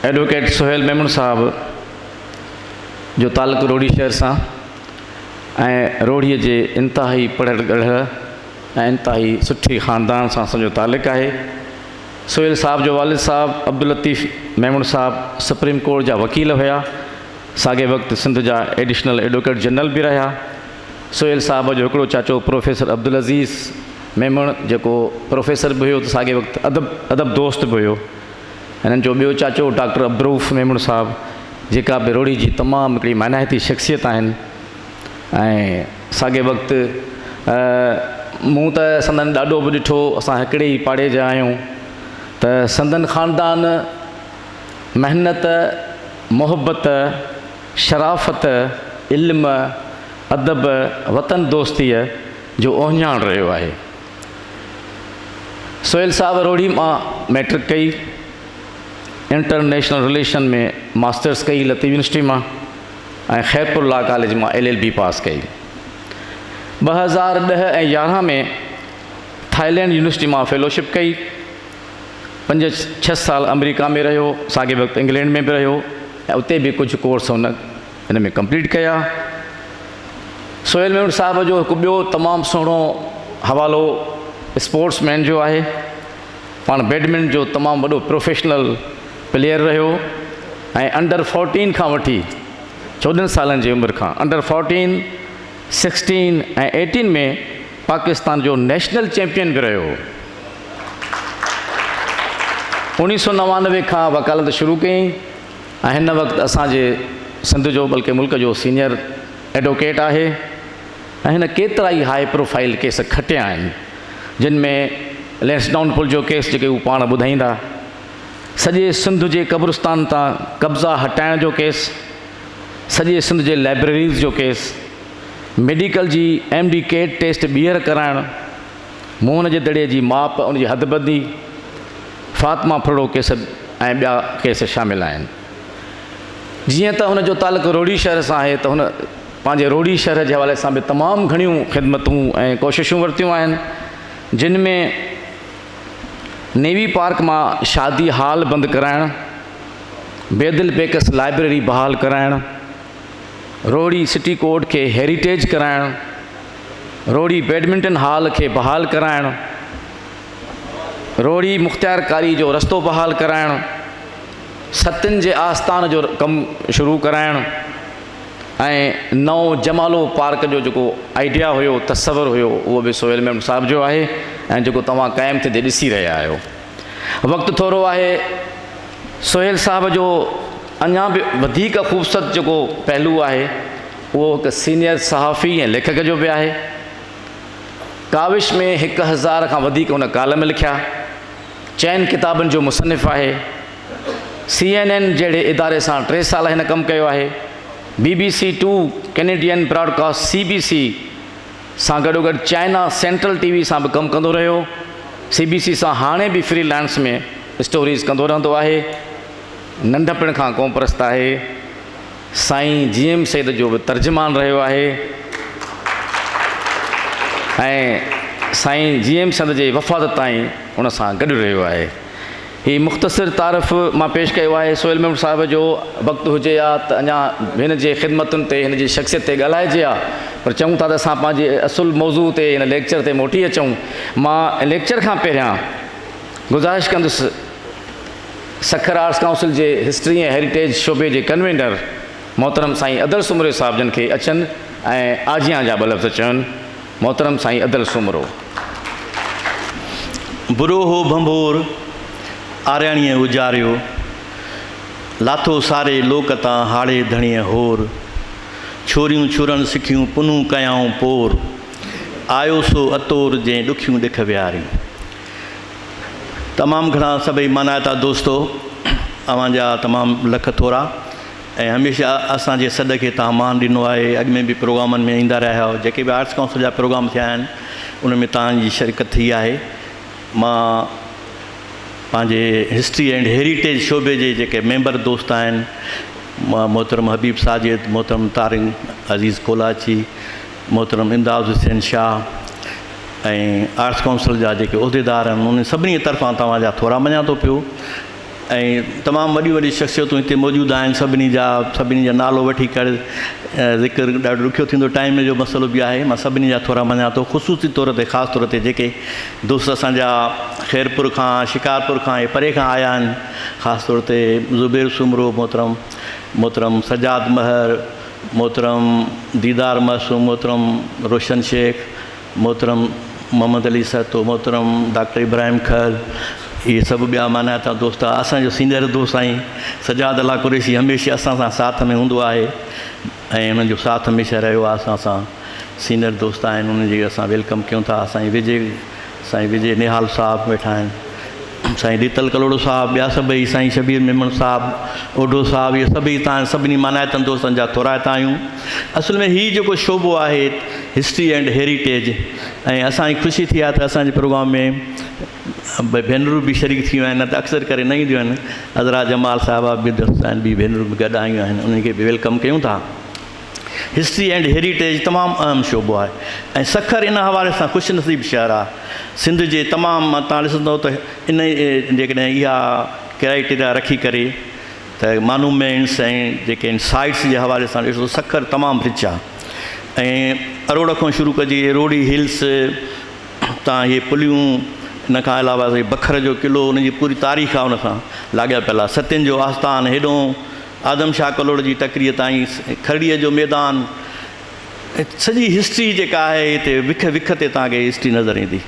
Advocate Sohail Memon صاحب جو تعلق روهڙي شهر سان ۽ روهڙيء جي انتهائي پڙهل ڳڙهل ۽ انتهائي سٺي خاندان سان اسان جو تعلق آهي سهيل صاحب جو والد صاحب عبداللطيف ميمڻ صاحب سپريم ڪورٽ جا وڪيل هيا ساڳئي وقت سنڌ جا ايڊيشنل ايڊووڪيٽ جنرل به رهيا سهيل صاحب جو هڪڙو چاچو پروفيسر عبدالعزيز ميمڻ جيڪو پروفيسر به هيو ته ساڳئي وقت ادب ادب دوست به هيو. هنن جو ٻيو چاچو ڊاڪٽر عبدالرؤف ميمڻ صاحب جيڪا به روهڙي جي تمام هڪڙي معنائتي شخصيت آهن ۽ ساڳئي وقت مون ته سندن ڏاڏو به ڏٺو اسان هڪڙي ئي پاڙي جا آهيون ته سندن خاندان محنت محبت شرافت، علم، ادب، وطن دوستيء جو اهڃاڻ رهيو آهي. سهيل صاحب روهڙي مان مئٽرڪ ڪئي، انٽر نيشنل رليشن ۾ ماسٽرس ڪئي لطيف يونيورسٽي مان ۽ خيرپور لا ڪاليج مان ايل ايل بي پاس ڪئي. ٻه هزار ڏهه ۽ يارهن ۾ ٿائلينڊ يونيورسٽي مان فيلوشپ ڪئي. پنج ڇهه سال آمريڪا ۾ رهيو، ساڳئي وقت انگلينڊ ۾ به رهيو ۽ اتي به ڪجهه ڪورس هن ان ۾ ڪمپليٽ ڪيا. سهيل ميمڻ صاحب جو هڪ ٻيو تمام سهڻو حوالو اسپورٽس مين جو آهي. پاڻ بيڊمنٽن جو تمام وڏو پروفيشنل پليئر رهيو ۽ انڊر فورٽين کان وٺي چوڏهن سالن جي عمر کان under fourteen, sixteen ۽ eighteen ۾ Pakistan جو نيشنل چيمپيئن به رهيو هو. اوڻيهه سؤ نوانوي کان وڪالت شروع ڪيائين ۽ هن وقت اسان جي سنڌ جو بلڪه ملڪ جو سينئر ايڊووڪيٽ آهي ۽ هن ڪيترائي هاء پروفائيل ڪيس کٽيا آهن جن ۾ لينسڊائون پل جو ڪيس جيڪي هو پاڻ ٻڌائيندا سڄي سنڌ جي قبرستان تان قبضا هٽائڻ جو ڪيس سڄي سنڌ جي لائبريريز جو ڪيس ميڊيڪل جي ايم ڊي ڪيٽ ٽيسٽ ٻيهر ڪرائڻ موهن جي دڙي جي ماپ، ان جي حدبندي، فاطمه ڦرڙو ڪيس ۽ ٻيا ڪيس شامل آهن. جيئن ته ان جو تعلق روهڙي شهر سان آهي ته هن پنهنجي روهڙي شهر جي حوالي سان به تمام گهڻيون خدمتون ۽ ڪوششون ورتيون آهن جن ۾ نيوي پارڪ مان شادي هال بند ڪرائڻ، بيدل پيڪس لائبريري بحال ڪرائڻ، روهڙي سٽي ڪورٽ کي هيريٽيج ڪرائڻ، روهڙي بيڊمنٽن هال کي بحال ڪرائڻ، روهڙي مختيارڪاري جو رستو بحال ڪرائڻ، ستين جي آستان جو ڪم شروع ڪرائڻ ۽ نئون جمالو پارڪ جو جيڪو آئيڊيا هيو، تصور هيو اهو به سهيل ميمڻ صاحب جو آهي ۽ جيڪو توهان قائم ٿيندي ڏسي رهيا آهيو. وقت ٿورو آهي، سهيل صاحب جو اڃا به وڌيڪ خوبصورت جيڪو پهلو آهي، اهو هڪ سينيئر صحافي ۽ ليکڪ جو به آهي. ڪاوش ۾ هڪ هزار کان وڌيڪ هن ڪالم لکيا. چئن ڪتابن جو مصنف آهي. سي اين اين جهڙي اداري سان ٽي سال هن ڪم ڪيو آهي. B B C two, Canadian broadcast, C B C, سان گڏوگڏ چائنا سينٽرل ٽي وي سان به ڪم ڪندو رهيو. سي بي سي سان هاڻي به فري لانس ۾ اسٽوريز ڪندو رهندو آهي. ننڍپڻ کان قومپرست آهي. سائين جي ايم سيد جو به ترجمان رهيو آهي ۽ سائين جي ايم سيد جي وفات تائين ان سان گڏ رهيو آهي. هي مختصر تعارف مان پيش ڪيو آهي. سهيل ميمڻ صاحب جو وقت هجي ها ته اڃا هن جي خدمتن تي، هن جي شخصيت تي ڳالهائجي ها پر چئون ٿا ته اسان پنهنجي اصل موضوع تي، ان ليڪچر تي موٽي اچون. مان ليڪچر کان پهريان گذارش ڪندس. سکر آرٽس ڪائونسل جي هسٽري ۽ هيريٽيج شعبي جي ڪنوينر محترم سائين ادل سومري صاحب جن کي اچن ۽ آجيان جا ٻه لفظ چون. محترم سائين ادل سومرو. بروهو ڀنڀور آرياڻيء اجاريو، لاٿو ساري لوڪ تان هاڙهي ڌڻيء هور، ڇوريون ڇورڻ سکيون پنهون ڪيائون پور، آيو سو اتور جنهن ڏکيون ڏک ويهاريون. تمام گھڻا سڀئي مانائتا دوستو اوھان جا تمام لک ٿورا ۽ ھميشه اسان جي سڏ کي تھان مان ڏنو آھي اڳ ۾ به پروگرامن ۾ ايندا رھيا آھيو جيڪي به آرٽس ڪائونسل جا پروگرام ٿيا آھن ان ۾ تھان جي شرڪت ٿي آھي مان پنھنجي ھسٽري اينڊ ھيريٽيج شعبي جي جيڪي ميمبر دوست آھن محترم حبيب ساجد محترم طارق عزيز ڪولاچي محترم امداد حسين شاهه ۽ آرٽس ڪائونسل جا جيڪي عهديدار آهن انهن سڀني طرفان توهان جا ٿورا مڃان ٿو پيو ۽ تمام وڏيون وڏيون شخصيتون هتي موجود آهن سڀني جا سڀني جا نالو وٺي ڪري ذڪر ڏاڍو ڏکيو ٿيندو ٽائيم جو مسئلو به آهي مان سڀني جا ٿورا مڃان ٿو خصوصي طور تي خاص طور تي جيڪي دوست اسان جا خيرپور کان شڪارپور کان ۽ پري کان آيا آهن خاص طور تي زبير سومرو محترم محترم سجاد مهر محترم ديدار معصوم، محترم روشن شيخ، محترم محمد علي سهتو، محترم ڊاڪٽر ابراهيم کهل، اهي سڀ ٻيا معنيٰ تان دوست آ، اسان جو سينئر دوست سائين سجاد الله قريشي هميشه اسان سان ساٿ ۾ هوندو آهي ۽ انهن جو ساٿ هميشه رهيو آ اسان سان سينئر دوست آهن انهن جي اسان ويلڪم ڪيون ٿا سائين وجي سائين وجي نهال صاحب ويٺا آهن، سائين ريتل ڪلهوڙو صاحب، ٻيا سڀئي، سائين شبير ميمڻ صاحب، اوڍو صاحب، اهي سڀئي تان سڀني مانائتن دوستن جا ٿورائتا آهيون. اصل ۾ هي جيڪو شعبو آهي هسٽري اينڊ هيريٽيج ۽ اسان کي خوشي ٿي آهي ته اسان جي پروگرام ۾ ٻه ڀينرون به شريڪ ٿيون آهن نه ته اڪثر ڪري نه اينديون آهن. عذرا جمال صاحبه به درست آهن ٻي ڀينرون به گڏ آيون آهن انهن کي به ويلڪم ڪيون ٿا. هسٽري اينڊ هيريٽيج تمام اهم شعبو آهي ۽ سکر ان حوالي سان خوش نصيب شهر آهي سنڌ جي تمام تان ڏسندو ته ان جيڪڏهن اها ڪرائيٽيريا رکي ڪري ته مانومينٽس ۽ جيڪي ان سائيٽس جي حوالي سان ڏسو سکر تمام رچ آهي ۽ اروڙ کان شروع ڪجي روڙي هلس تان اهي پليون ان کان علاوه بکر جو قلعو ان جي پوري تاريخ آهي ان سان لاڳاپيل آهي ستين جو آستان هيڏو آدم شاهه ڪلهوڙ جي ٽڪريء تائين کهڙيء جو ميدان سڄي هسٽري جيڪا آهي هتي وک وک تي توهان کي هسٽري نظر ايندي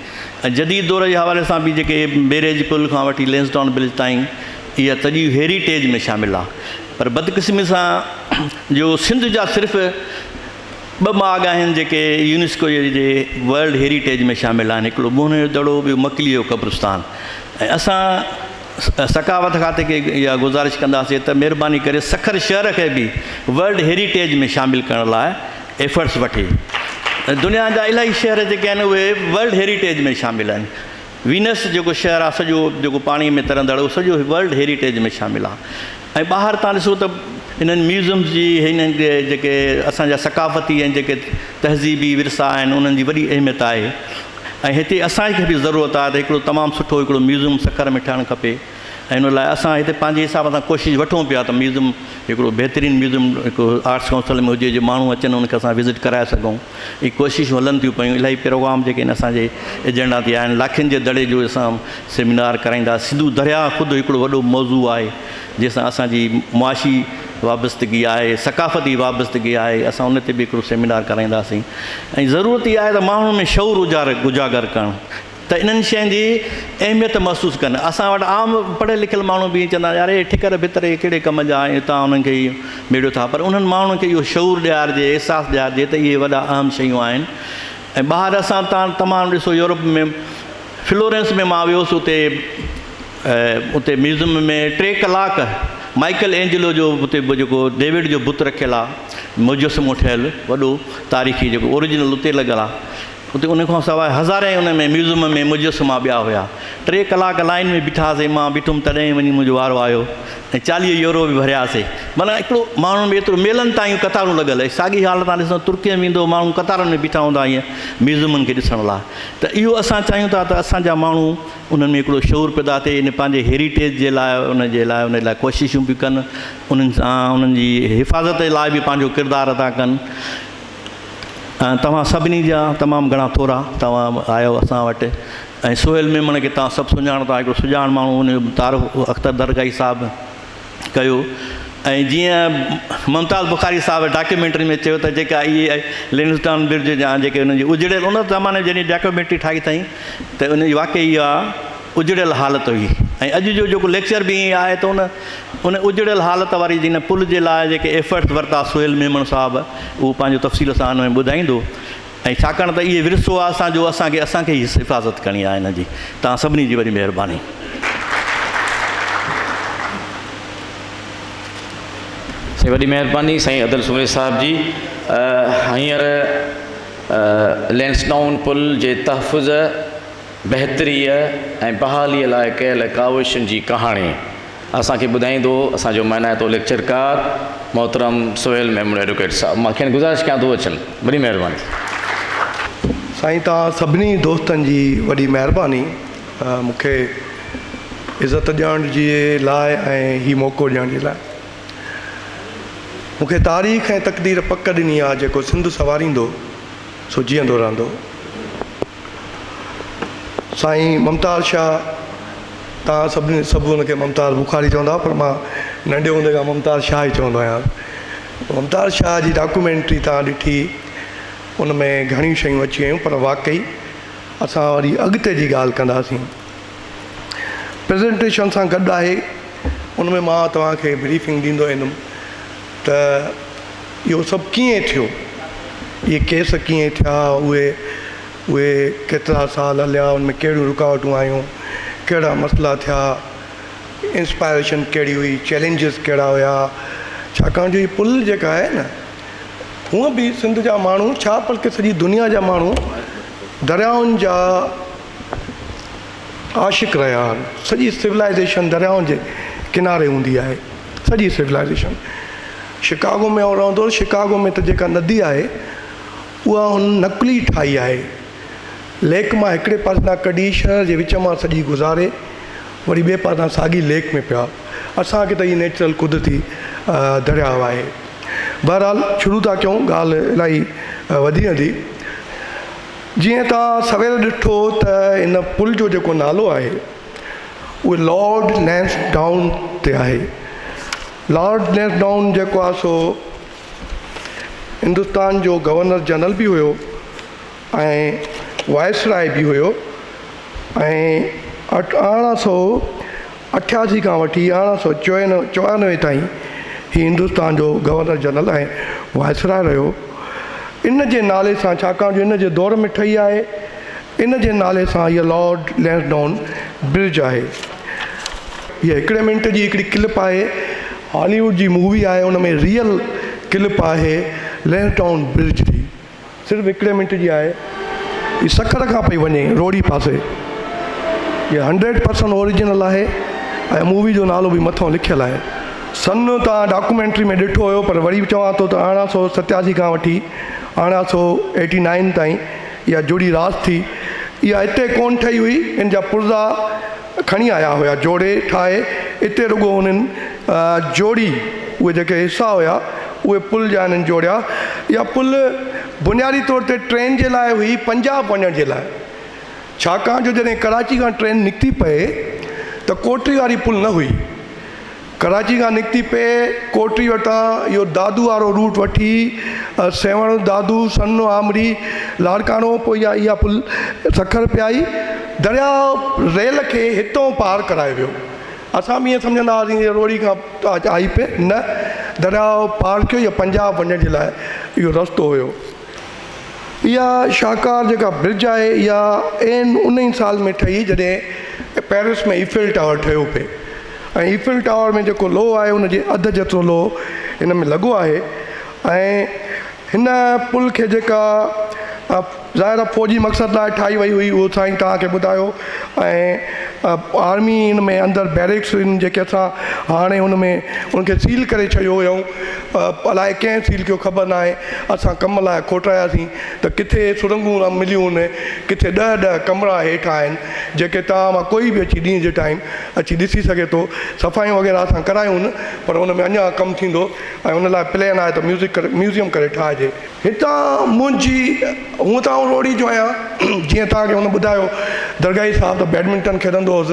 ۽ جديد دور جي حوالي سان به جيڪي بيريج پل کان وٺي لينسڊان برج تائين اها سڄي هيريٽيج ۾ شامل آهي پر بدقسمي سان جو سنڌ جا صرف ٻه ماڳ آهن جيڪي يونيسڪو جي ورلڊ هيريٽيج ۾ شامل آهن هڪڙو ٻونهن جو دڙو ٻيو مڪلي جو قبرستان ۽ اسان ثقافت کاتي کي اها گذارش ڪنداسين ته مهرباني ڪري سکر شهر کي به ورلڊ هيريٽيج ۾ شامل ڪرڻ لاء ايفرٽس وٺي دنيا جا الاهي شهر جيڪي آهن اهي ورلڊ هيريٽيج ۾ شامل آهن وينس جيڪو شهر آهي سڄو جيڪو پاڻي ۾ ترندڙ اهو سڄو ورلڊ هيريٽيج ۾ شامل آهي ۽ ٻاهر تان ڏسو ته انهن ميوزمز جي هن جيڪي اسان جا ثقافتي ۽ جيڪي تهذيبي ورثا آهن انهن جي وڏي اهميت آهي ۽ هتي اسان کي به ضرورت آهي ته هڪڙو تمام سٺو هڪڙو ميوزم سکر ۾ ٺهڻ کپي ۽ ان لاء اسان هتي پنهنجي حساب سان ڪوشش وٺون پيا ته ميوزم هڪڙو بهترين ميوزم هڪ آرٽس ڪائونسل ۾ هجي جو ماڻهو اچن ان کي اسان وزٽ ڪرائي سگهون. اهي ڪوششون هلن ٿيون پيون الاهي پروگرام جيڪي ان اسان جي ايجنڊا تي آهن لاکين جي دڙي جو اسان سيمينار ڪرائيندا سنڌو دريا خود هڪڙو وڏو موضوع آهي جنهن سان اسان جي معاشي وابستگي آهي ثقافتي وابستگي آهي اسان ان تي به هڪڙو سيمينار ڪرائينداسين ۽ ضرورت اها آهي ته ماڻهن ۾ شعور اجاگر ڪرڻ ته انهن شين جي اهميت محسوس ڪن. اسان وٽ عام پڙهيل لکيل ماڻهو به ائين چوندا آهن يار اهي ٺڪر ڀتر اهي ڪهڙي ڪم جا آهن تان انهن کي اهي ميڙيو ٿا پر انهن ماڻهن کي اهو شعور ڏيارجي احساس ڏيارجي ته اهي وڏا اهم شيون آهن ۽ ٻاهر اسان تان تمام ڏسو يورپ ۾ فلورينس ۾ مان ويوس اتي اتي ميوزم ۾ ٽي ڪلاڪ مائيڪل اينجلو جو اتي جيڪو ڊيوڊ جو بت رکيل آهي مجسمو ٺهيل وڏو تاريخي جيڪو اوريجنل اتي لڳل آهي اتي ان کان سواء هزارين ان ۾ ميوزم ۾ مجسما ٻيا هيا. ٽي ڪلاڪ لائين ۾ بيٺا هاسين، مان بيٺم تڏهن ئي وڃي منهنجو وارو آيو ۽ چاليهه يورو به ڀرياسين. معنيٰ هڪڙو ماڻهن ۾ ايترو ميلن تائين قطارون لڳل هي. ساڳي حال تان ڏسندو ترڪي ۾ ويندو ماڻهو قطارن ۾ بيٺا هوندا هين ميوزمن کي ڏسڻ لاء. ته اهو اسان چاهيون ٿا ته اسان جا ماڻهو انهن ۾ هڪڙو شعور پيدا ٿئي ان پنهنجي هيريٽيج جي لاء ان جي لاء ان لاء ڪوششون به ڪن انهن سان انهن جي حفاظت لاء به پنهنجو ڪردار ادا ڪن. ۽ توهان سڀني جا تمام گهڻا ٿورا توهان آيو اسان وٽ ۽ سهيل ميمڻ کي توهان سڀ سڃاڻو ٿا هڪڙو سڄاڻ ماڻهو ان جو تعارف اختر درگاهي صاحب ڪيو ۽ جيئن ممتاز بخاري صاحب ڊاڪيومينٽري ۾ چيو ته جيڪا اهي لنسٽان برج جا جيڪي ان جي اجڙيل ان زماني جي جيڪي ڊاڪيومينٽري ٺاهي اٿائين ته ان جي واقعي اها اجڙيل حالت هئي ۽ اڄ جو جيڪو ليڪچر به ائين آهي ته ان اجڙيل حالت واري جن پل جي لاء جيڪي ايفرٽس ورتا سهيل ميمڻ صاحب اهو پنهنجو تفصيل سان ان ۾ ٻڌائيندو ۽ ڇاڪاڻ ته اهي ورثو آهي اسان جو اسان کي اسان کي ئي حفاظت ڪرڻي آهي ان جي توهان سڀني جي وڏي مهرباني سائين وڏي مهرباني سائين عدل سمري صاحب جي هينئر لينسٽائون پل جي تحفظ بهتريء ۽ بحاليء لاء ڪيل ڪاوشن جي ڪهاڻي اسان کي ٻڌائيندو اسان جو مهنائتو ليڪچرڪار محترم سهيل ميمڻ ايڊوڪيٽ صاحب مان کين گذارش ڪيان ٿو اچن وڏي مهرباني ٿيندي. سائين توهان سڀني دوستن جي وڏي مهرباني مون کي عزت ڏيڻ جي لاء ۽ هي موقعو ڏيڻ جي لاء مون کي تاريخ ۽ تقدير پڪ ڏني آهي جيڪو سنڌ سنواريندو سو جيئندو رهندو. سائين ممتاز شاهه تان سڀني سڀ ان کي ممتاز بخاري چوندا هئا پر مان ننڍي هوندي کان ممتاز شاهه ئي چوندو آهيان ممتاز شاهه جي ڊاڪومينٽري تان ڏٺي ان ۾ گهڻيون شيون اچي ويون پر واقعي اسان وري اڳتي جي ڳالهه ڪنداسين پريزنٽيشن سان گڏ آهي ان ۾ مان توهان کي بريفنگ ڏيندو ويندم ته اهو سڀ ڪيئن ٿيو، اهي ڪيس ڪيئن ٿيا، اهي اهي ڪيترا سال هليا، ان ۾ ڪهڙيون رڪاوٽون آيون، ڪهڙا مسئلا ٿيا، انسپائريشن ڪهڙي هئي، چئلينجز ڪهڙا هيا، ڇاڪاڻ جو هي پل جيڪا آهي نه هونء به سنڌ جا ماڻهو ڇا بلڪه سڄي دنيا جا ماڻهو دريائن جا عاشق رهيا آهن سڄي سولائيزيشن دريائن جي ڪناري هوندي آهي سڄي سولائيزيشن شڪاگو ۾ آئون رهندو هوس شڪاگو ۾ ته جيڪا ندي آهي اها هن نقلي ٺاهي آهي ليڪ مان هڪڙي پاسي کان ڪڍي شهر جي وچ مان سڄي گذاري وري ٻئي پاسي کان ساڳي ليڪ ۾ پيا اسان کي ته هي نيچرل قدرتي درياهه آهي بهرحال شروع ٿا ڪيون ڳالهه الاهي وڌي ويندي جيئن توهان سوير ڏٺو ته ان پل جو جيڪو نالو آهي اهو لارڊ لينس ڊائون تي آهي. لارڊ لينس ڊائون جيڪو آهي سو هندستان جو گورنر جنرل به هيو ۽ وائسراء به هيو ۽ اٺ ارڙهن سئو اٺياسي کان وٺي ارڙهن سؤ چورانوي تائين هي هندستان جو گورنر جنرل ۽ وائسراء رهيو ان جي نالي سان ڇاڪاڻ جو ان جي دور ۾ ٺهي آهي ان جي نالي سان هيء لارڊ لينسڊائون برج آهي هيء هڪڙي منٽ جي هڪڙي ڪلپ آهي هالي ووڊ جي مووي آهي ان ۾ ريئل ڪلپ آهي لينسڊائون برج جي صرف هڪڙي منٽ جي آهي هي سکر کان پئي وڃي روهڙي پاسي هي هنڊريڊ پرسنٽ اوريجنل آهي ۽ مووي جو نالو به مٿو لکيل آهي سن توهان ڊاڪومينٽري ۾ ڏٺو هيو پر وري چوان ٿو ته ارڙهن سو ستياسي کان وٺي ارڙهن سو ايٽي نائن تائين اها جڙي راس ٿي اها هتي ڪون ٺهي هئي ان جا پرزا کڻي آيا هيا جوڙي ٺاهي اتي رڳو انهن جوڙي اهي جيڪي حصا هيا اهي پل جا انهن جوڙيا اها پل بنيادي طور تي ٽرين جي لاء هئي پنجاب وڃڻ جي لاء ڇاڪاڻ جو جڏهن ڪراچي کان ٽرين نڪتي پئي ته ڪوٽڙي واري پل نه هئي. ڪراچي کان نڪتي پئي ڪوٽڙي وٽان اهو دادو وارو روٽ وٺي سيوهڻ دادو سن آمري لاڙڪاڻو پوء يا اها پل سکر پيائي درياء ريل کي هتئون پار ڪرائي ويو اسان به ائين سمجهندا هئاسين جي روهڙي کان آهي پئي نه درياء پار ڪيو يا پنجاب وڃڻ جي لاء اهو رستو هيو اها شاهڪار جيڪا برج آهي اها عين ان ئي سال ۾ ٺهي جڏهن پئرس ۾ ايفل ٽاور ٺهيو پئي ۽ ايفل ٽاور ۾ جيڪو لوهه آهي ان جي اڌ جيترو لوهه هن ۾ لڳو آهي ۽ هن پل کي جيڪا ظاهر آهي فوجي مقصد لاء ٺاهي وئي هئي اهو سائين توهان کي ٻڌايو ۽ آرمي ان ۾ اندر بيرڪس جيڪي اسان هاڻي ان ۾ ان کي سيل ڪري ڇڏيو هيائون الائي ڪنهن فيل ڪيو خبر ناهي اسان ڪم لاء کوٽاياسين ته ڪٿي سرنگهون مليون هن ڪٿي ڏهه ڏهه ڪمرا هيٺ آهن جيڪي توهان مان ڪوئي به اچي ڏينهن جي ٽائيم اچي ڏسي سگهي ٿو صفايون وغيره اسان ڪرايون پر ان ۾ اڃان ڪم ٿيندو ۽ ان لاء پلين آهي ته ميوزڪ ڪري ميوزيم ڪري ٺاهجي. هتان منهنجي هونء ته آئون روهڙي جو آهيان جيئن توهان کي هن ٻڌايو درگاهي صاحب ته بيڊمنٽن کيڏندو هوس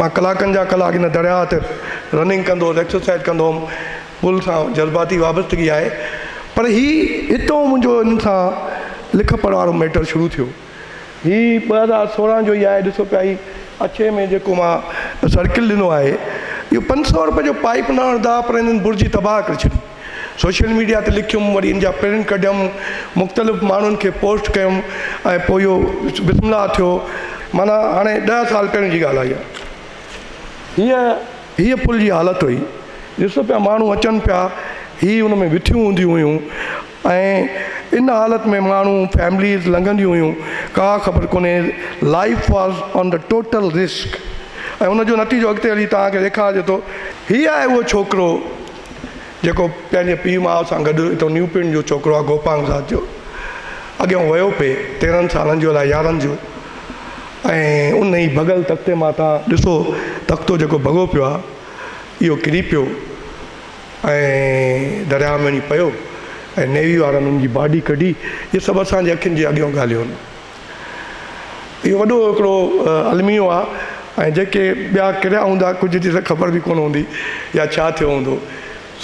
مان ڪلاڪن جا ڪلاڪ ان درياهه تي رننگ ڪندو هوس ايڪسرسائيز ڪندو هوم گل سان جذباتي وابستگي آهي پر هي هتون منهنجو هن سان لک پڙهه وارو ميٽر شروع ٿيو. هي ٻه هزار سورهن جو ئي آهي ڏسو پيا هي اڇي ۾ جيڪو مان سرڪل ڏنو آهي اهو پنج سؤ روپين جو پائيپ نه هڻدا پر هنن برجي تباهه ڪري ڇڏي. سوشل ميڊيا تي لکيم وري ان جا پرنٽ ڪڍيم مختلف ماڻهن کي پوسٽ ڪيم ۽ پوء اهو بسم الله ٿيو معنيٰ هاڻي ڏهه سال پهرين جي ڳالهه آهي اها. هيء هيء پل جي حالت هئي، ڏسو پيا ماڻهو اچن پيا، هي ان ۾ ويٺيون هونديون هيون ۽ ان حالت ۾ ماڻهو فيمليز لنگهنديون هيون، ڪا خبر ڪونهي، life was on the total risk ۽ ان جو نتيجو اڳتي هلي توهان کي ڏيکارجي ٿو. هي آهي اهو ڇوڪرو. جيڪو پنهنجي پيء ماء سان گڏ اتو نيو پنڊ جو ڇوڪرو آ گوپانگ ذات جو اڳيون ويو پي تيرهن سالن جو الائي يارهن جو ۽ ان ئي ڀڳل تختي مان تان ڏسو تختو جيڪو ڀڳو پيو آ اهو ڪري پيو ۽ درياء ۾ وڃي پيو ۽ نيوي وارن ان جي باڊي ڪڍي هي سڀ اسان جي اکين جي اڳيون ڳالهيون اهو وڏو هڪڙو الميو آ ۽ جيڪي ٻيا ڪريا هوندا ڪجهه جي ته خبر به ڪونه هوندي يا ڇا ٿيو هوندو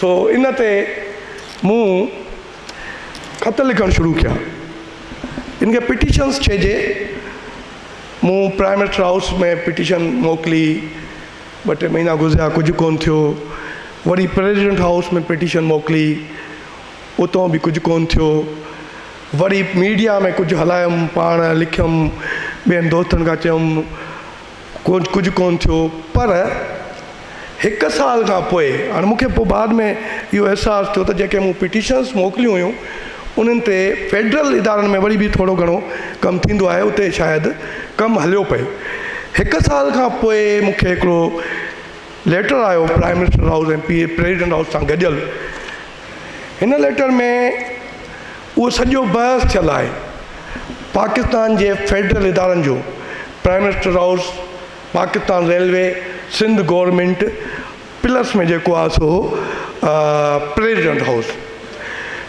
سو ان تي مون خط لکڻ شروع ڪيا ان کي پٽيشنس چئجي مون پرائم منسٽر هائوس ۾ پٽيشن موڪلي ٻه ٽي مهينا گذريا ڪجهه ڪونه ٿيو وري پريزيڊنٽ هائوس ۾ پٽيشن موڪلي اتو به ڪجهه ڪونه ٿيو وري ميڊيا ۾ ڪجهه هلايم، پاڻ لکيم، ٻين دوستن کان چيم، ڪجهه ڪونه ٿيو. پر هڪ سال کان پوء، هاڻي مون کي پوء بعد ۾ اهو احساس ٿيو ته جيڪي مون پٽيشنس موڪليون هيون، انهن تي فيڊرل ادارن ۾ وري به ٿورو گهڻو ڪم ٿيندو آهي، اتي شايد ڪم هليو پئي. هڪ سال کان پوء مون کي هڪڙو ليٽر آيو prime minister house ۽ president house سان گڏيل، هن ليٽر ۾ اهو سڄو بحث ٿيل آهي. پاڪستان جي فيڊرل ادارن جو prime minister house, Pakistan railway, Sindh government plus ۾ جيڪو آهي سو پريزيڊنٽ هائوس.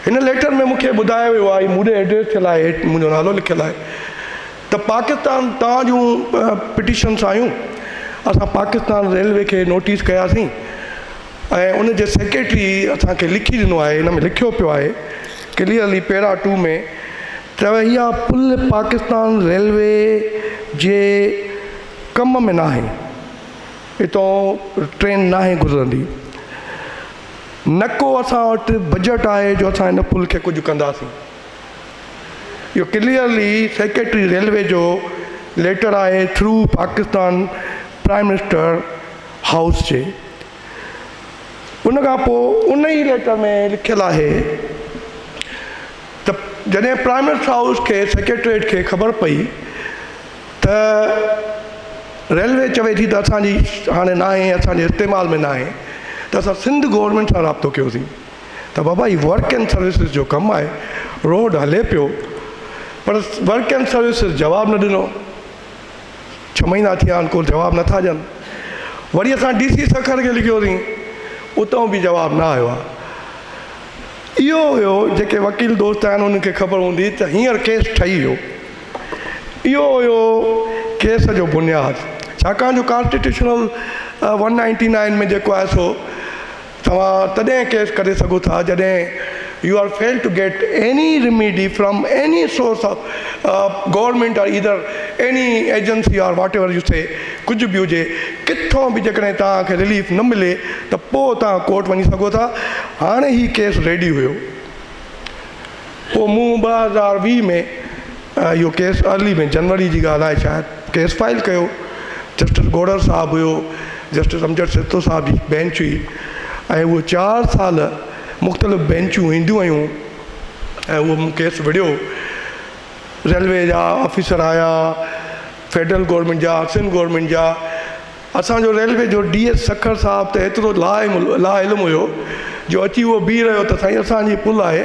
هن ليٽر ۾ مون کي ٻڌايو ويو آهي، مون ڏي ايڊريس ٿيل آهي، هيٺ منهنجو نالو لکيل آهي ته پاڪستان توهان جون پٽيشنس آيون، اسان پاڪستان ريلوي کي نوٽيس ڪياسين، ۽ ان جي سيڪريٽري اسان کي لکي ڏنو آهي ان ۾ لکيو پيو آهي ڪليئرلي پيرا ٽو ۾ ته اها پل پاڪستان ريلوي جي ڪم ۾ ناهي اتان ٽرين ناهي گذرندي نڪو اسان وٽ بجيٽ آهي جو اسان ان پل کي ڪجهه ڪنداسين اهو ڪليئرلي سيڪريٽري ريلوي جو ليٽر آهي through Pakistan prime minister house جي ان کان پوء ان ئي ليٽر ۾ لکيل آهي ته جڏهن پرائيم منسٽر هائوس کي سيڪريٽريٽ کي خبر پئي ته ريلوي چوي ٿي ته اسان جي هاڻي ناهي اسان جي استعمال ۾ ناهي ته اسان سنڌ گورنمينٽ سان رابطو ڪيوسين ته بابا هي ورڪ اينڊ سروسز جو ڪم آهي روڊ هلي پيو پر ورڪ اينڊ سروسز جواب نه ڏنو ڇهه مهينا ٿيا آهن ڪو جواب نه ٿا ڏين وري اسان ڊي سي سکر کي لکيوسين اتئون به جواب نه آيو آهي اهو هيو جيڪي وڪيل دوست آهن انهن کي خبر هوندي ته هينئر ڪيس ٺهي ويو اهو هيو ڪيس جو بنياد ڇاڪاڻ جو ڪانسٽيٽيوشنل ون نائنٽي نائن ۾ جيڪو آهي سو توهان تڏهن ڪيس ڪري سگهو ٿا جڏهن you are fail to get any remedy from any source of government or either any agency or whatever you see ڪجهه به هجي ڪٿو به جيڪڏهن توهان کي رليف نه ملي ته پوء توهان ڪورٽ وڃي سگهو ٿا هاڻي هي ڪيس ريڊي هيو. پوء مون ٻه هزار ويهه ۾ اهو ڪيس ارلي ۾ جنوري جي ڳالهه آهي شايد ڪيس فائل ڪيو جسٽس گوڏر صاحب هيو جسٽس امجد سهتو صاحب جي بينچ هئي ۽ اهو چار سال مختلف بينچون اينديون ويون ۽ اهو مون ڪيس وڙهيو ريلوي جا آفيسر آيا فيڊرل گورمينٽ جا سنڌ گورمينٽ جا اسان جو ريلوي جو ڊي ايس سکر صاحب ته ايترو لا علم هيو جو اچي اهو بيهي رهيو ته سائين اسان جي پل آهي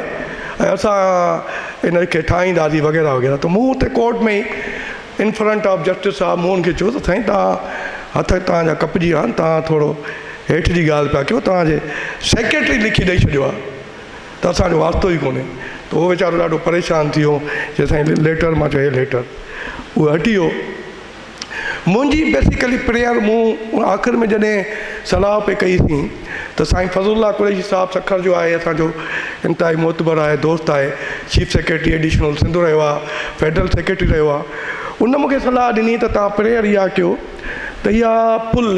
۽ اسان ان کي ٺاهينداسين وغيره وغيره ته مون اتي ڪورٽ ۾ ئي ان فرنٽ آف جسٽس صاحب مون ان کي چيو ته سائين توهان هٿ توهان جا ڪپجي ويا آهن توهان ٿورو هيٺ جي ڳالهه پيا ڪيو توهان جي سيڪريٽري لکي ڏئي ڇڏيو آهي ته اسان جو واسطو ئي ڪونهي ته اهو ويچارو ڏاڍو پريشان ٿي ويو چيو سائين ليٽر مان چيو هي ليٽر اهو هٽي ويو منهنجي بيسڪلي پريئر مون آخر ۾ جڏهن صلاح پي ڪئي سين ته سائين فضل الله قريشي صاحب سکر جو آهي اسان جو انتهائي معتبر آهي دوست آهي چيف سيڪريٽري ايڊيشنل سنڌ رهيو آهي فيڊرل سيڪريٽري رهيو آهي ان مونکي صلاح ڏني ته تهان پريئر اها ڪيو ته اها پل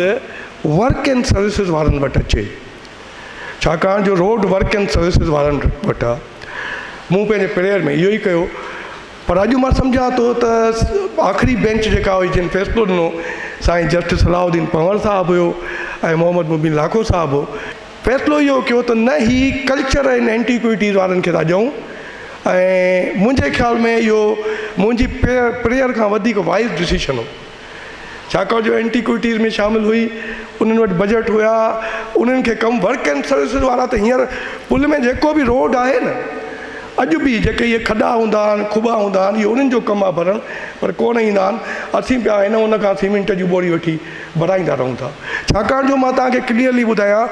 ورڪ اينڊ سروسز وارن وٽ اچي ڇاڪاڻ جو روڊ ورڪ اينڊ سروسز وارن وٽ آهي مون پنهنجي پريئر ۾ اهو ئي ڪيو پر اڄ مان سمجهان ٿو ته آخري بينچ جيڪا هئي جنهن فيصلو ڏنو سائين جسٽس صلاح الدين پنهور صاحب هيو ۽ محمد مبين لاکو صاحب هو فيصلو اهو ڪيو ته نه هي ڪلچر ۽ اينٽيڪوئٽيز وارن کي ٿا ڏيون ۽ منهنجي خيال ۾ اهو منهنجي پريئر کان وڌيڪ وائز ڊسيشن هو ڇاڪاڻ جو اينٽيڪوئٽيز ۾ شامل هئي، انهن وٽ بجيٽ هيا، انهن کي ڪم ورڪ اينڊ سروسز وارا ته هينئر پل ۾ جيڪو به روڊ آهي نه اڄ به جيڪي اهي کڏا هوندا آهن کٻا هوندا آهن اهي انهن جو ڪم آهي ڀرڻ پر ڪونه ايندا آهن اسين پيا هن ان کان سيمينٽ جون ٻوڙي وٺي ڀرائيندا رهون ٿا ڇاڪاڻ جو مان توهان کي ڪليئرلي ٻڌايان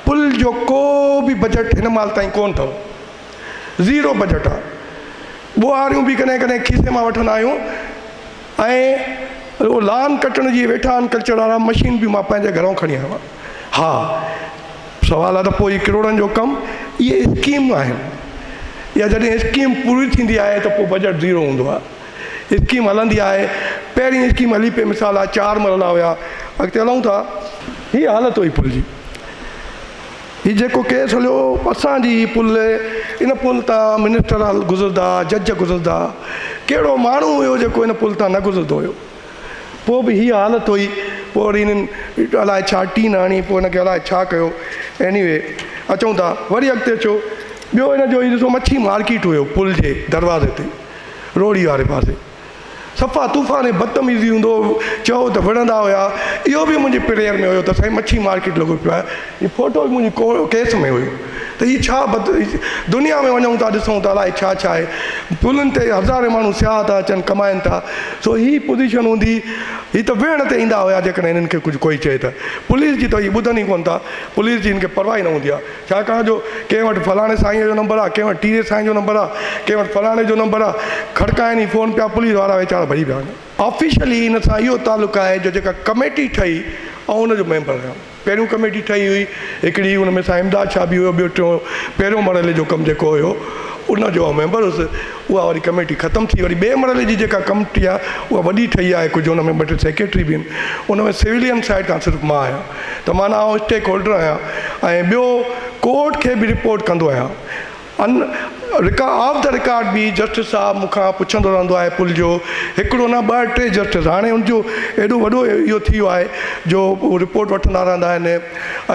پل جو ڪو به بجيٽ هن مال تائين ڪونه اٿو زيرو بجيٽ آهي ٻوهاريون به ڪڏهن ڪڏهن کيسي مان وٺندا آهيون. ۽ رڳو لان ڪٽڻ جي ويٺا آھن ڪلچر وارا مشين به مان پنهنجي گهرئون کڻي آيو آھيان ھا سوال آھي ته پوء ھي ڪروڙن جو ڪم اھي اسڪيم آھن يا جڏھن اسڪيم پوري ٿيندي آھي ته پوء بجيٽ زيرو ھوندو آھي اسڪيم ھلندي آھي پهرين اسڪيم ھلي پئي مثال آھي چار مرحلا ھيا اڳتي ھلئون ٿا ھي حالت ھئي پل جي. هي جيڪو ڪيس هليو اسان جي هي پل ان پل تان منسٽر گذردا جج گذردا ڪهڙو ماڻهو هيو جيڪو ان پل تان نه گذرندو هيو پوء به هي حالت هئي پوء وري هنن الاء ڇا ٽين هڻي پوء هن کي الاء ڇا ڪيو ايني وي اچون ٿا وري اڳتي اچو ٻيو هن جو هي ڏسو مڇي مارڪيٽ هيو پل جي دروازي تي روهڙي واري پاسي صفا طوفان ۽ بدتميزي هوندو چئو ته وڙهندا هيا اهو به منهنجي پريئر ۾ هيو ته سائين مڇي مارڪيٽ لڳو پيو آهي هي فوٽو به منهنجي ڪيس ۾ هيو ته هي ڇا بد دنيا ۾ وڃون ٿا ڏسون ته الائي ڇا ڇا آهي پلن تي هزارين ماڻهو سياح ٿا اچن ڪمائن ٿا سو هي پوزيشن هوندي هي ته ويهڻ تي ايندا هيا جيڪڏهن هنن کي ڪجهه ڪوئي چئي ته پوليس جي ته هي ٻڌن ئي ڪونه ٿا پوليس جي هن کي پرواهه ئي نه هوندي آهي ڇاڪاڻ جو ڪنهن وٽ فلاڻي سائينء جو نمبر آ، ڪنهن وٽ ٽيري سائينء جو نمبر آ، ڪنهن وٽ فلاڻي جو نمبر آ، کڙڪائين ئي فون پيا پوليس وارا ويچارا ڀڄي پيا وڃن. آفيشلي ان سان اهو تعلق آهي جو جيڪا ڪميٽي ٺهي آئون ان جو ميمبر رهيم. پهريون ڪميٽي ٺهي هئي هڪڙي ان ۾ سائين امداد شاهه به هيو ٻيو ٽيون پهريون مرحلي جو ڪم جيڪو هيو ان جو آئون ميمبر هيس. اها واري ڪميٽي ختم ٿي وري ٻئي مرحلي جي جيڪا ڪمٽي آهي اها وڏي ٺهي آهي ڪجهه ان ۾ ٻه ٽي سيڪريٽري به آهن ان ۾ سويلين سائيڊ کان صرف مان آهيان ته معنيٰ آئون اسٽيڪ هولڊر آهيان ۽ ٻيو ڪورٽ کي به رپورٽ ڪندو آهيان ان رڪا آف دا رڪارڊ به جسٽس صاحب مون کان پڇندو رهندو آهي پل جو هڪڙو نه ٻه ٽي جسٽس هاڻي ان جو ايڏو وڏو اهو ٿي ويو آهي جو رپورٽ وٺندا رهندا آهن ۽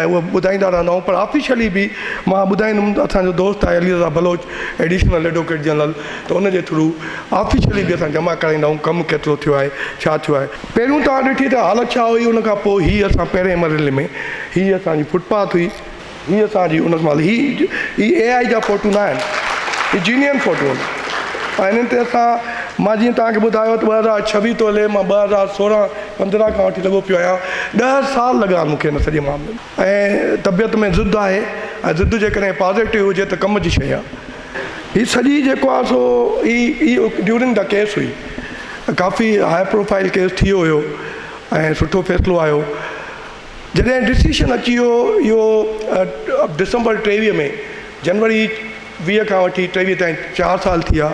اهو ٻڌائيندا رهندا آهيون پر آفيشلي به مان ٻڌائيندم اسان جو دوست آهي Ali Raza Baloch additional advocate general ته ان جي ٿرو آفيشلي به اسان جمع ڪرائيندا آهيون ڪم ڪيترو ٿيو آهي ڇا ٿيو آهي. پهريون توهان ڏٺي ته حالت ڇا هئي ان کان پوء هي اسان پهرين مرحلي ۾ هي اسان جي فوٽ پاٿ هئي هي اسان جي ان مهل هي هي اي آئي جا فوٽو نه آهن هي جينين فوٽو آهن ۽ انهن تي اسان مان جيئن توهان کي ٻڌايو ته ٻه هزار ڇويهه تولي مان ٻه هزار سورهن پندرهن کان وٺي لڳو پيو آهيان ڏهه سال لڳا مون کي ان سڄي معاملي ۾. ۽ طبيعت ۾ ضد آهي ۽ ضد جيڪڏهن پازيٽو هجي ته ڪم جي شيء آهي هي سڄي جيڪو آهي سو هي هي ڊيورنگ دا ڪيس هئي ڪافي هاء پروفائل ڪيس ٿي ويو هيو ۽ سٺو فيصلو آيو جڏهن ڊسيشن اچي ويو اهو ڊسمبر ٽيويهه ۾ جنوري ويهه کان وٺي ٽيويهه تائين چار سال ٿي ويا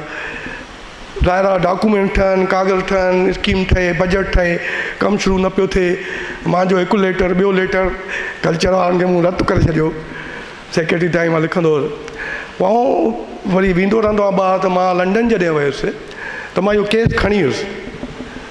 ظاهرا ڊاڪومينٽ ٺهن، ڪاغذ ٺهن، اسڪيم ٺهي، بجيٽ ٺهي، ڪم شروع نه پيو ٿئي. مان جو هڪ ليٽر، ٻيو ليٽر، ڪلچر وارن کي مون رد ڪري ڇڏيو. سيڪريٽري تائين مان لکندو هوس. پوء وري ويندو رهندو آهيان ٻاهر ته مان لنڊن جڏهن ويس ته مان اهو ڪيس کڻي ويس.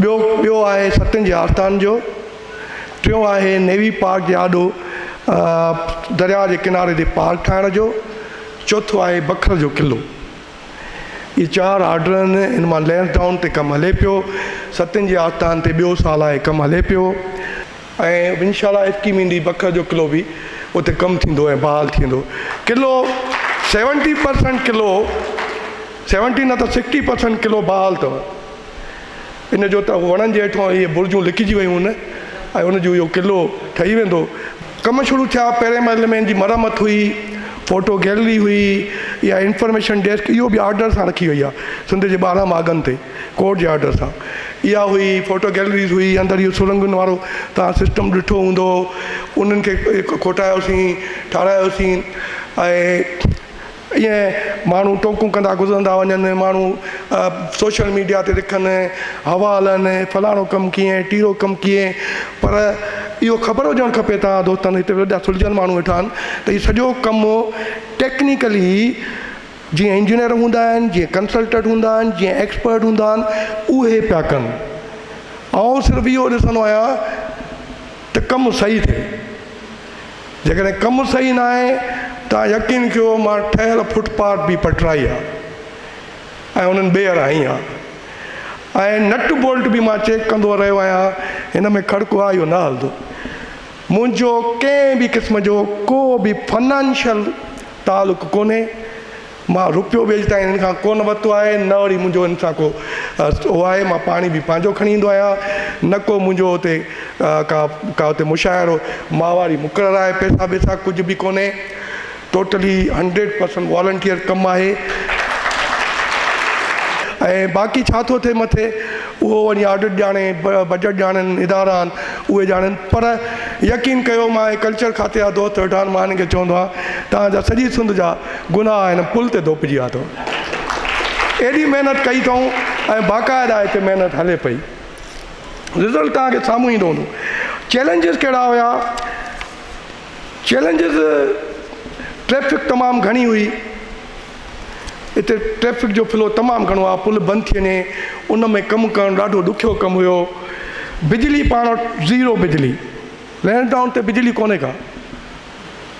ٻيو ٻيو آهي ستين جي آستان جو ٽيون آهي نيوي پارڪ جي آڏو درياء جي ڪناري تي پارڪ ٺاهڻ جو چوٿون آهي بکر جو قلعو اهي چار آرڊر آهن ان مان لينس ڊائون تي ڪم هلي پيو ستين جي آستان تي ٻيو سال آهي ڪم هلي پيو ۽ انشاء الله اٽڪي مينڊي بکر جو قلعو به اتي ڪم ٿيندو ۽ بحال ٿيندو. قلعو سيونٽي پرسنٽ قلعو سيونٽي نه ته سڪسٽي پرسنٽ قلعو بحال اٿو. ان جو ته وڻن جي هيٺان اهي برجون لڪجي ويون هن ۽ ان جو اهو قلعو ٺهي ويندو. ڪم شروع ٿيا، پهرين مرحلي ۾ ان جي مرمت هئي، فوٽو گيلري هئي، اها انفارميشن ڊيسڪ اهو به آرڊر سان رکي وئي آهي سنڌ جي ٻارهن ماڳن تي. ڪورٽ جي آرڊر سان اها هئي فوٽو گيلريز هئي اندر اهو سرنگهن وارو توهان سسٽم ڏٺو هوندو انهن کي کوٽايوسين ٺارايوسين ۽ ائين ماڻهو ٽوڪون ڪندا گذرندا وڃن ماڻهو سوشل ميڊيا تي لکن هوا هلن فلاڻو ڪم ڪيئن ٽيرو ڪم ڪيئن پر اهو خبر هجڻ کپي توهان دوستن هتي وڏا سلجهيل ماڻهو ويٺا آهن ته هي سڄو ڪم ٽيڪنيڪلي جيئن انجنيئر هوندا آهن، جيئن ڪنسلٽنٽ هوندا آهن، جيئن ايڪسپرٽ هوندا آهن اهي پيا ڪن. آئون صرف اهو ڏسندو آهيان ته ڪم صحيح ٿئي. جيڪڏهن ڪم صحيح نه آهي ته يقين ڪيو مان ٺهيل فٽ پاٿ به پٽرائي آهي ۽ انهن ٻيهر هنئي آهي ۽ نٽ بولٽ به مان چيڪ ڪندو رهيو آهيان هن ۾ کڙڪو آهي اهو نه هلندو. منهنجو ڪنهن به قسم جو ڪو به فنانشل تعلق ڪونهي، مان روپيو به اڄ تائين هنن کان ڪونه ورتو آهي، نه وري منهنجو هنن سان ڪو اهو آهي، مان پاڻي به پنهنجو کڻي ايندو آهيان، نه ڪو منهنجو اتي ڪا ڪا اتي مشاعرو ماهواري مقرر آهي، پئسا ٻئسا ڪجهه به ڪونهي، ٽوٽلي هنڊريڊ پرسنٽ والنٽيئر ڪم آهي. ۽ باقي ڇا ٿو ٿئي مٿي. اهو وڃي آڊٽ ڄاڻي، بجيٽ ڄاڻن، ادارا آهن اهي ڄاڻن پر يقين ڪيو مان اهي ڪلچر کاتي جا دوست ويٺا آهن مان هنن کي چوندو آهيان توهان جا سڄي سنڌ جا گناهه هن پل تي ڌوپجي ويا اٿو ايڏي محنت ڪئي اٿئون ۽ باقاعده هتي محنت هلي پئي رزلٽ توهان کي سامهون ايندو هوندو چيلنجز ڪهڙا هيا چيلنجز ٽريفڪ تمام گهڻي هئي اتي ٽريفڪ جو فلو تمام گهڻو آهي پل بند ٿي وڃي ان ۾ ڪم ڪرڻ ڏاڍو ڏکيو ڪم هيو بجلي پاڻ وٽ زيرو بجلي لينڊ ڊائون تي بجلي ڪونهي ڪا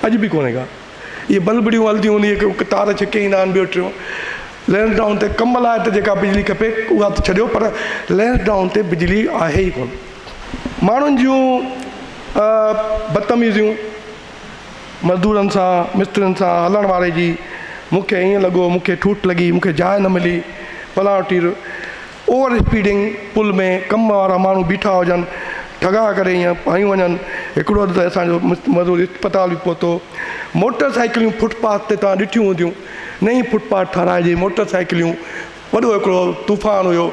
اڄ به ڪونهي ڪا اهي بلبڙيون هلنديون هونديون هڪ هڪ تار ڇڪي ايندا آهن ٻيو ٽيون لينڊ ڊائون تي ڪم لاء ته جيڪا بجلي کپي اها ته ڇڏيو پر لينڊ ڊائون تي بجلي آهي ئي ڪونه ماڻهن جون بدتميزيون مزدورن سان مسترين سان هلڻ واري جي مون کي ائين لڳو مون کي ٺوٺ لڳي مون کي جاء نه ملي پلاڻو ٽير اوور اسپيڊنگ پل ۾ ڪم وارا ماڻهو بيٺا هجن ٺڳا ڪري ائين پايون وڃن هڪڙو ته اسان جو مزدور اسپتال به پهتو موٽر سائيڪليون فٽ پاٿ تي توهان ڏٺيون هونديون نئين فٽ پاٿ ٺاهرائجي موٽر سائيڪليون وڏو هڪڙو طوفان هيو.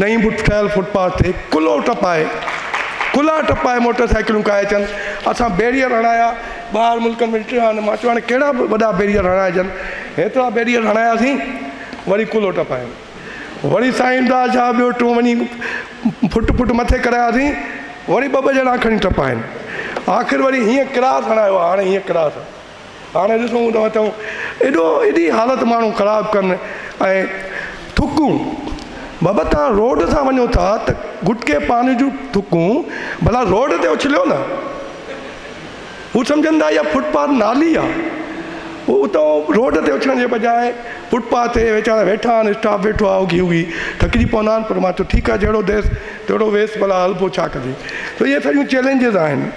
نئين بوٽ ٺهيل فوٽ پاٿ تي ڪلهو ٽپائي ڪلها ٽپائي موٽر سائيڪلون ڪاهي اچن اسان بيريئر هڻايا ٻاهر ملڪن ۾ ڏٺو آهي مان چيو هاڻي ڪهڙا به وڏا بيريئر هڻائجن هيترا بيريئر هڻاياسين وري ڪلهو ٽپايون وري سائين امداد شاهه ٻيو ٽون وڃي فوٽ فوٽ مٿي ڪراياسين وري ٻه ٻه ڄڻا کڻي ٽپائين آخر وري هيئن ڪراس هڻايو آهي هاڻي هيئن ڪراس هاڻي ڏسون ته اچو ايڏو ايڏي حالت ماڻهو خراب ڪن ۽ ٿڪون بابا تان روڊ سان وڃو ٿا ته گٽڪي پان جون ٿڪون ڀلا روڊ تي اڇليو نه هو سمجهن ٿا اها فٽ پاٿ نالي آ هو اتو روڊ تي اڇلڻ جي بجاء فٽ پاٿ تي ويچارا ويٺا آهن اسٽاف ويٺو آهي اوگهي اوگهي ٿڪجي پوندا آهن پر مان چيو ٺيڪ آ جهڙو ديس تهڙو ويس ڀلا هلبو ڇا ڪجي ته اهي سڄيون چئلينجز آهن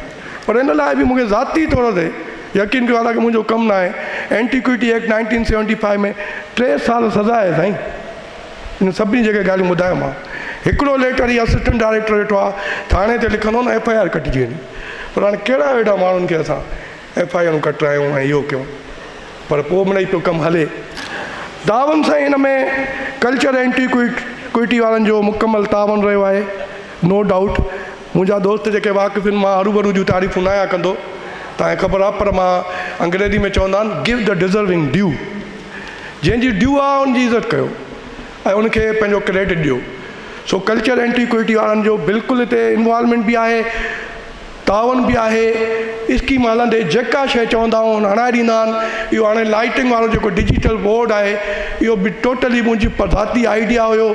پر ان لاء به مون کي ذاتي طور تي يقين ڪيو آهي ته منهنجو ڪم ناهي. Antiquity act nineteen seventy five ۾ ٽي سال سزا آهي سائين. انهن سڀني جيڪي ڳالهيون ٻڌايومانو. هڪڙو ليٽر هي اسسٽنٽ ڊائريڪٽر ويٺو آهي ٿاڻي تي لکندو نه ايف آء آر ڪٽجي وڃي. پر هاڻي ڪهڙا ويڍا ماڻهن کي اسان ايف آء آرون ڪٽرايون ۽ اهو ڪيون. پر پوء مڙئي پيو ڪم هلي. تعاون سائين ان ۾ ڪلچر اينٽيڪوئٽي وارن جو مڪمل تعاون رهيو آهي نو ڊائوٽ. منهنجا دوست جيڪي واقفين مان هروڀرو جون تعريفون نه آهيان ڪندو، تانئن خبر آهي، پر مان انگريزي ۾ چوندا آهن Give the deserving due جنهن جي ڊيو آهي ان جي عزت ڪيو ۽ ان کي پنهنجو ڪريڊٽ ڏيو، سو ڪلچر اينٽيڪوئٽي وارن جو بلڪل هتي انوالومينٽ به آهي، تعاون به آهي، اسڪيم هلندي جيڪا شيء چوندا آهن هڻائي ڏيندا آهن، اهو هاڻي لائيٽنگ وارو جيڪو ڊجيٽل بورڊ آهي اهو به ٽوٽلي منهنجي ذاتي آئيڊيا هيو.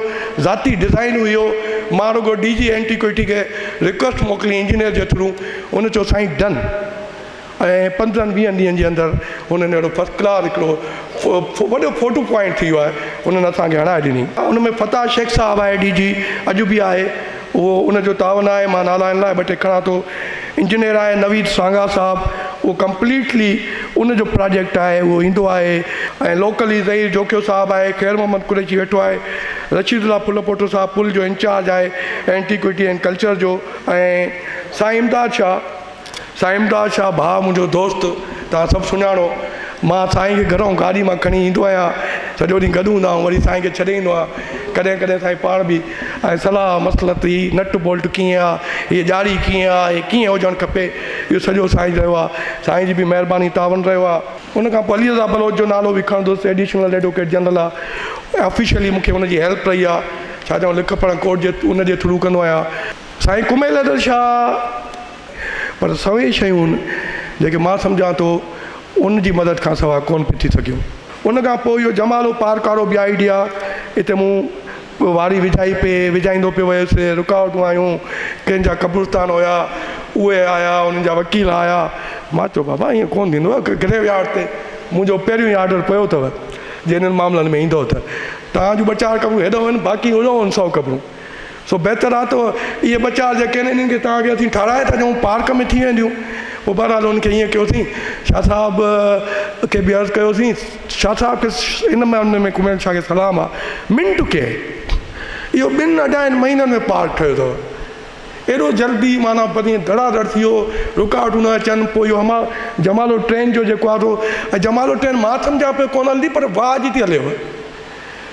ذاتي ڊزائين هئي اهو مان رڳو ڊي جي اينٽيڪوئٽي کي رڪويسٽ موڪلي انجنيئر جي ٿرو ان چيو سائين ڊن ۽ پندرهن ويهن ڏينهن جي اندر انهن اهڙو فرسٽ ڪلاس هڪڙو وڏو فوٽو پوائنٽ ٿي ويو آهي انهن اسان کي هڻائي ڏني ان ۾ فتاح شيخ صاحب آهي ڊي جي اڄ به آهي اهو ان جو تاء نه آهي، مان نالائڻ لاء ٻه ٽي کڻان ٿو. انجنيئر آهي نويد سانگا صاحب، اهو ڪمپليٽلي ان جو پراجيڪٽ آهي، اهو ايندو آهي ۽ لوڪلي ظهير جوکيو صاحب آهي، خير محمد قريشي ويٺو آهي، رشيد الله ڦلپوٽو صاحب پل جو انچارج آهي اينٽيڪوٽي اينڊ ڪلچر جو ۽ سائين امداد شاهه. سائين امداد شاهه ڀاء منهنجو دوست توهان سڀ سڃاڻو مان سائين کي گهرئون گاڏي مان کڻي ايندو آهيان سڄو ڏينهن گڏ هوندا آهيون وري سائين کي ڇڏي ايندو آهيان ڪڏهن ڪڏهن سائين پاڻ به ۽ صلاح مصلحت هي نٽ بولٽ ڪيئن آهي هي ڄاڙي ڪيئن آهي هي ڪيئن هجڻ کپي اهو سڄو سائين رهيو آهي سائين جي به مهرباني تعاون رهيو آهي ان کان پوء علي رضا بلوچ جو نالو به کڻندس ايڊيشنل ايڊووڪيٽ جنرل آهي آفيشلي مون کي ان جي هيلپ رهي آهي ڇا چئون لک پڙهه ڪورٽ جي ان جي ٿرو ڪندو آهيان سائين ڪميل حيدر شاهه پر سوين شيون جيڪي مان سمجهان ٿو ان جي مدد کان سوا ڪونه پئي ٿي سگهيون. ان کان پوء اهو جمالو پارڪ وارو به آئيڊيا اتي مون واري وجهائي پئي وجهائيندو پيو ويس رڪاوٽون آيون ڪن جا قبرستان هيا اهي آيا انهن جا وڪيل آيا مان چيو بابا ايئن ڪونه ٿيندو گريو يارڊ تي منهنجو پهريون ئي آرڊر پيو اٿو جي انهن معاملن ۾ ايندو ته توهان جون ٻه چار قبرون هيڏانهن هن باقي هيڏانهن هن سئو قبرون سو بهتر آهي ته اهي ٻه چار جيڪي آهن انهن کي توهان کي اسين ٺاهرائي ٿا ڏيون پارڪ ۾ ٿي وينديون پوء بهرحال انهن کي ائين ڪيوسين شاهه صاحب کي به عرض ڪيوسين شاهه صاحب کي ان معاملي ۾ ڪميل شاهه کي سلام آهي منٽ ڪئين اهو ٻن اڍائين مهينن ۾ پارڪ ٺهيو اٿو ايڏو جلدي معنيٰ پرين ڌڙا ڌڙ ٿي ويو رڪاوٽون نه اچن پوء اهو امان جمالو ٽرين جو جيڪو آهي سو ۽ جمالو ٽرين مان سمجهان پيو ڪونه هلندي پر واهه جي ٿي هليو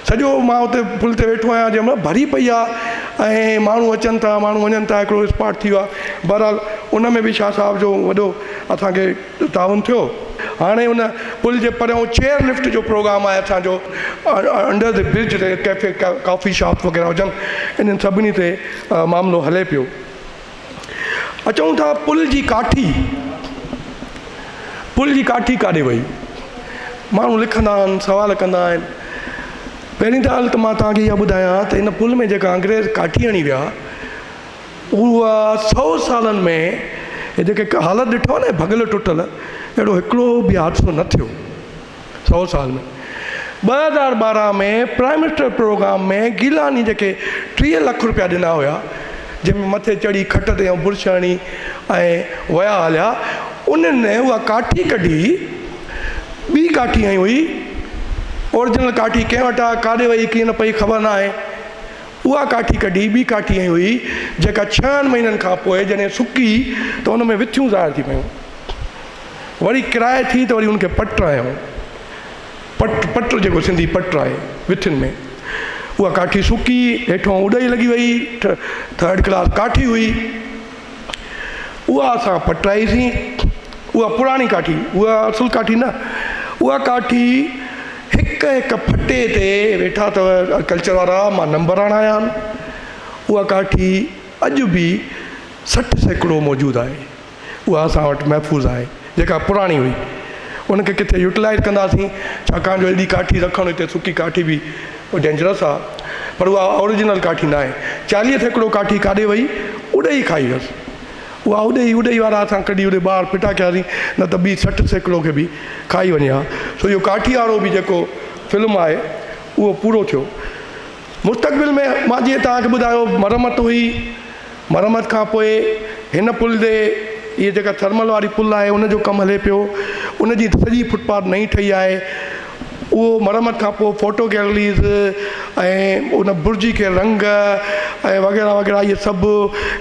سڄو مان اتي پل تي ويٺو آهيان جنهن مهل ڀري پئي آهي ۽ ماڻهو اچن ٿا ماڻهو وڃن ٿا هڪڙو اسپاٽ ٿي ويو آهي بهرحال ان ۾ به شاهه صاحب جو وڏو اسان کي تعاون ٿيو هاڻي ان پل جي پريون چيئر لفٽ جو پروگرام آهي اسان جو انڊر دي برج تي ڪيفي ڪافي شاپ وغيره هجن انهن سڀني تي معاملو هلي پيو اچون ٿا پل جي ڪاٺي، پل جي ڪاٺي ڪاڏي وئي؟ ماڻهو لکندا آهن سوال ڪندا آهن پهرين ته ڳالهه ته مان توهان کي اها ٻڌايان ته ان پل ۾ جيڪا انگريز ڪاٺي هڻي ويا اها سو سالن ۾ هي جيڪي حالت ڏٺو آهي نه ڀڳل ٽٽل اهڙو هڪڙو به حادثو نه ٿيو سؤ سال ۾. ٻه هزار ٻارهن ۾ پرائم منسٽر پروگرام ۾ گيلاني جيڪي ٽيهه لک رپيا ڏنا هيا جنهن ۾ مٿي چڙهي کٽ تي ۽ برش هڻي ۽ ويا هليا انهن ۾ اها ڪاٺي ڪڍي ٻي ڪاٺي هنئي هئي اورجنل ڪاٺي ڪنهن وٽ آ ڪاڏي وئي ڪيئن نه پئي خبر نه آهي اها ڪاٺي ڪڍي ٻي ڪاٺي هنئي هئي جيڪا ڇهن مهينن کان پوء جڏهن سڪي ته ان ۾ وٿيون ظاهر ٿي پيون. وري ڪرائي ٿي ته وري ان کي پٽ آيو پٽ پٽ جيڪو سنڌي پٽ آهي وٿين ۾ اها ڪاٺي سڪي هيٺو اڏائي لڳي وئي ٿرڊ ڪلاس ڪاٺي هئي اها اسان پٽرائيسين اها پراڻي ڪاٺي اها اصل ڪاٺي نه اها ڪاٺي هڪ هڪ ڦٽي تي ويٺا اٿو ڪلچر وارا مان نمبر آڻايا اها ڪاٺي اڄ به سٺ سيڪڙو موجود آهي اها اسان وٽ محفوظ آهي جيڪا پراڻي هئي ان کي ڪٿي يوٽلائز ڪنداسين ڇاڪاڻ جو ايڏي ڪاٺي رکڻ هتي سڪي ڪاٺي به ڊينجرس آهي پر اها اورجنل ڪاٺي ناهي چاليهه سيڪڙو ڪاٺي ڪاڏي وئي اڏي ئي کائي ويس اها اڏي ئي اڏي وارا اسان ڪڍي اڏي ٻاهر ڦٽا ڪياسين نه ته ٻي سٺ سيڪڙو کي به کائي وڃي ها سو اهو ڪاٺي وارو به جيڪو فلم آهي اهو پورو ٿيو مستقبل ۾ مان جيئن توهان کي ٻڌايو مرمت هئي، مرمت کان پوء هن پل تي اهي جيڪا ٿرمل واري پل آهي ان جو ڪم هلي پيو، ان جي سڄي فٽ پاٿ نئين ٺهي آهي، اهو مرمت کان پوء فوٽو گيلريز ۽ ان برج کي رنگ ۽ وغيره وغيره اهي سڀ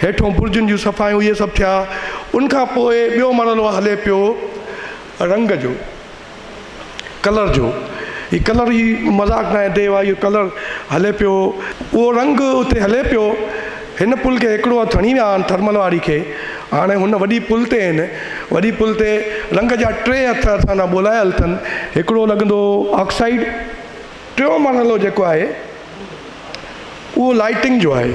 هيٺون برجن جون صفايون اهي سڀ ٿيا، ان کان پوء ٻيو مرحلو هلي پيو رنگ جو. ڪلر جو هي ڪلر هي مذاق نه آهي ديوا اهو ڪلر هلي پيو اهو رنگ اتي هلي پيو هن پل کي هڪڙو هٿ هڻي ويا آهن ٿرمل واري کي هاڻي هن وڏي پل تي آهن وڏي پل تي رنگ جا ٽي هٿ اسان لاء ٻولايل اٿن هڪڙو لڳندو آڪسائيڊ ٽيون مرحلو جيڪو آهي اهو لائٽنگ جو آهي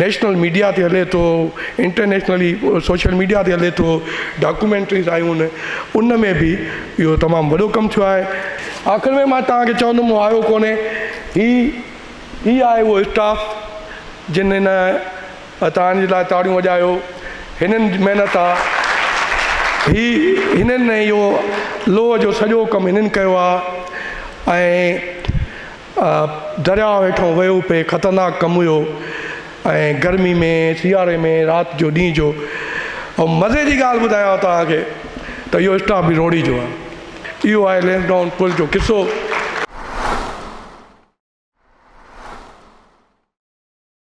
نيشنل ميڊيا تي هلي ٿو، انٽرنيشنلي سوشل ميڊيا تي هلي ٿو، ڊاڪومينٽريز آيون آهن، ان ۾ به اهو تمام وڏو ڪم ٿيو آهي. آخر ۾ مان توهان کي چوندم مون هايو ڪونهي، هي هي آهي اهو اسٽاف جن هن توهان جي لاء تاڙيون وڄايو، هنن جي محنت آ، هي هنن ۽ اهو لوهه جو سڄو ڪم هنن ڪيو آ ۽ درياء هيٺون ويو پئي خطرناڪ ڪم هيو ۽ گرمي ۾ سياري ۾ رات جو ڏينهن جو ۽ مزي جي ڳالهه ٻڌايان توهان کي ته اهو اسٽاف به روڙي جو آهي اهو آهي لينس ڊائون پل جو قصو.